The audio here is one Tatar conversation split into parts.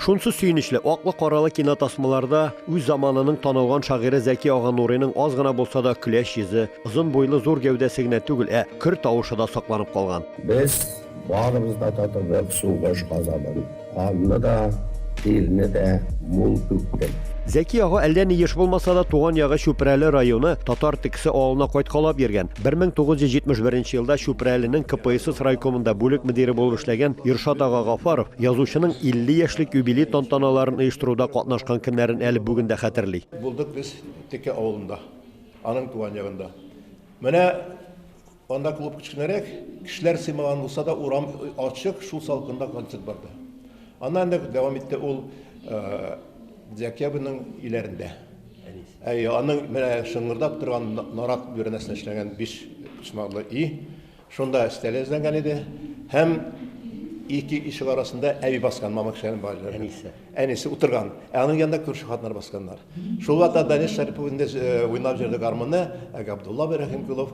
Шунсы сөенечле, аклы-каралы кинотасмаларда үз заманының танылган шагыйре Зәки ага Нурыйның аз гына булса да көләч йөзе, озын буйлы зур гәүдәсе генә түгел, ә көр тавышы да сакланып калган. Без барыбыз да татыдык сугыш газабын, канны да, тирне дә мул түктек. Зәки ага әллә ни еш булмаса да, туган ягы Чүпрәле районы Татар Тексе авылына кайткалап йөргән. 1971 елда Чүпрәленең КПСС райкомында бүлек мөдире булып эшләгән Иршат ага Гафаров язучының 50 яшьлек юбилей тантаналарын оештыруда катнашкан көннәрен әле бүген дә хәтерли. Булдык без Текә авылында, аның туган ягында. Менә анда клуб кечкенәрәк, кешеләр сыймаган булса да, урам ачык, шул салкында концерт барды. Аннан инде дәвам итте ул. Декабрьнең иләрендә. Әй, аның менә шыңгырдап торган нарат бүрәнәсенә эшләнгән биш почмаклы өй. Шунда өстәл эзләнгән иде. Һәм ике ишек арасында әби баскан, мама кешеләрнең балалары. Әнисе. Әнисе утырган. Ә аның янында күрше хатыннар басканнар. Шул вакытта Данил Шәрипов инде э, уйнап җөрде гармунны, ә Габдулла Рәхимкулов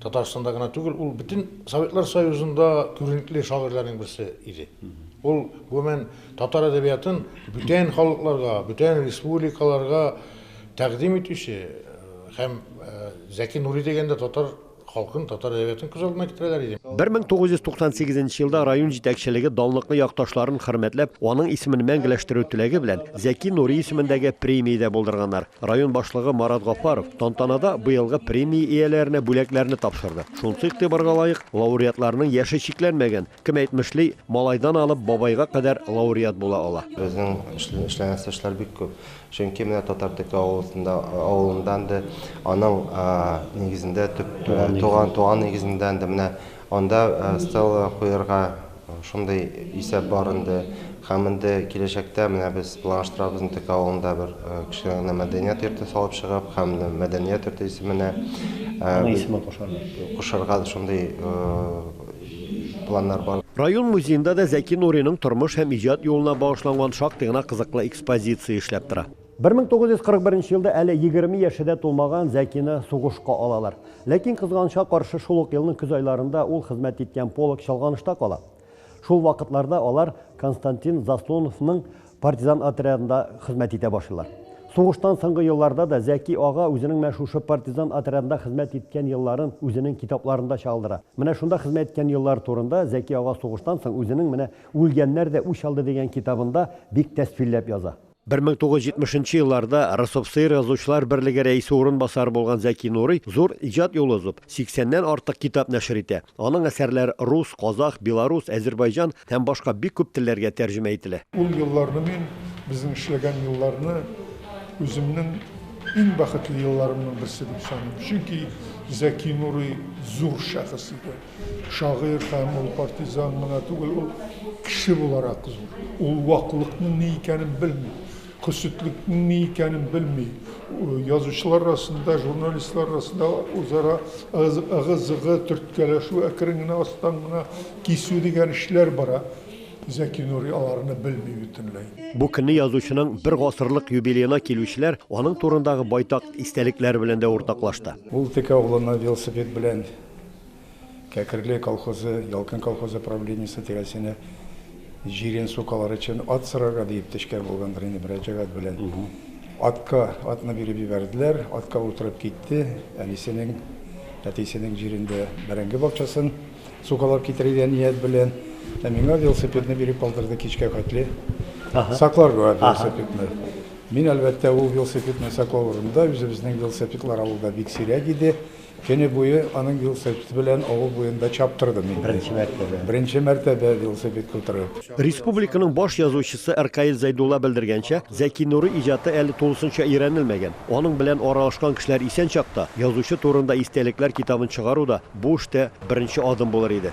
Татарстанда гына түгел, ул бөтен Советлар Союзында күренекле шагыйрьләрнең берсе иде. Ул гомумән татар әдәбиятын бүтән халыкларга, бүтән республикаларга тәкъдим итүче һәм Зәки Нури дигәндә татар халкын, татар әдәбиятын күз алдына китерәләр иде. 1998 елда район җитәкчелеге данлыклы якташларын хөрмәтләп, аның исемен мәңгеләштерү теләге белән Зәки Нури исемендәге премия дә булдырганнар. Район башлыгы Марат Гафаров тантанада быелгы премия ияләренә бүләкләрне тапшырды. Шунсы игътибарга лаек, лауреатларның яше чикләнмәгән. Кем әйтмешли, малайдан алып бабайга кадәр лауреат була ала. Безнең эшләнәсе эшләр бик күп. Чөнки менә Татартеке авылында, авылыннан да, аның нигезендә, туган нигезендән дә, менә анда стелла куярга, Шундый исәп бар инде. Һәм инде киләчәктә менә без планлаштырабыз Нтек авылында бер кечкенә генә мәдәният йорты салып чыгып, һәм мәдәният йорты исеменә Ана исемен кушарга. Кушарга шундый планнар бар. Район музеенда да Зәки Нуриның тормыш һәм иҗат юлына багышланган шактый гына кызыклы экспозиция эшләп тора. 1941 нче елда әле 20 яше дә тулмаган Зәкины сугышка алалар. Ләкин кызганычка каршы шул ук елның көз айларында ул хезмәт иткән полк чалганышта кала. Шул вакытларда алар Константин Заслоновның партизан отрядында хезмәт итә башлыйлар. Сугыштан соңгы елларда да Зәки ага үзенең менә шушы партизан отрядында хезмәт иткән елларын үзенең китапларында чагылдыра. Менә шунда хезмәт иткән еллар турында Зәки ага сугыштан соң үзенең менә Үлгәннәр дә үч алды дигән китабында бик тәсфилләп яза. 1970 нчы елларда РСФСР Язучылар берлеге рәисе урынбасары булган Зәки Нурый зур иҗат юлы узып, 80 ннән артык китап нәшер итә. Аның әсәрләре рус, казах, белорус, әзербайҗан һәм башка бик күп телләргә тәрҗемә ителә. Ул елларны мин, безнең эшләгән елларны үземнең иң бәхетле елларымның берсе дип саныйм. Чөнки Зәки Нурый зур шәхес иде. Шагыйрь һәм ул партизан гына түгел, ул кеше буларак зур. Ул ваклыкның ни икәнен белми, хөсетлекнең ни икәнен белми. Язучылар арасында, журналистлар арасында үзара ыгы-зыгы, төрткәләшү, әкрен генә астан гына кисү дигән эшләр бара. Зәки Нури аларны белми бөтенләй. Бу көнне язучының бер гасырлык юбилеена килүчеләр аның турындагы байтак истәлекләр белән дә уртаклашты. Ул текә углына велосипед белән Кәкерле колхозы, Ялкын колхозы правлениесе тирәсенә җирен сукалар өчен ат сорарга диеп төшкән булгандыр инде мөрәҗәгать белән. Атка атны биреп җибәрделәр, атка утырып китте, әнисенең, әтисенең җирендә бәрәңге бакчасын сукалап китерергә ният белән, ә миңа велосипедны биреп калдырды кичкә хәтле сакларга велосипедны. Мин, әлбәттә, ул велосипедны саклау урынында, үзебезнең велосипедлар авылда бик сирәк иде. Көне буе аның велосипеды белән авыл буенда чаптырдым инде. Беренче мәртәбә. Беренче мәртәбә велосипедка утырып. Республиканың баш язучысы Ркаил Зәйдулла белдергәнчә, Зәки Нурый иҗаты әле тулысынча өйрәнелмәгән. Аның белән аралашкан кешеләр исән чакта, язучы турында истәлекләр китабын чыгару да бу эштә беренче адым булыр иде.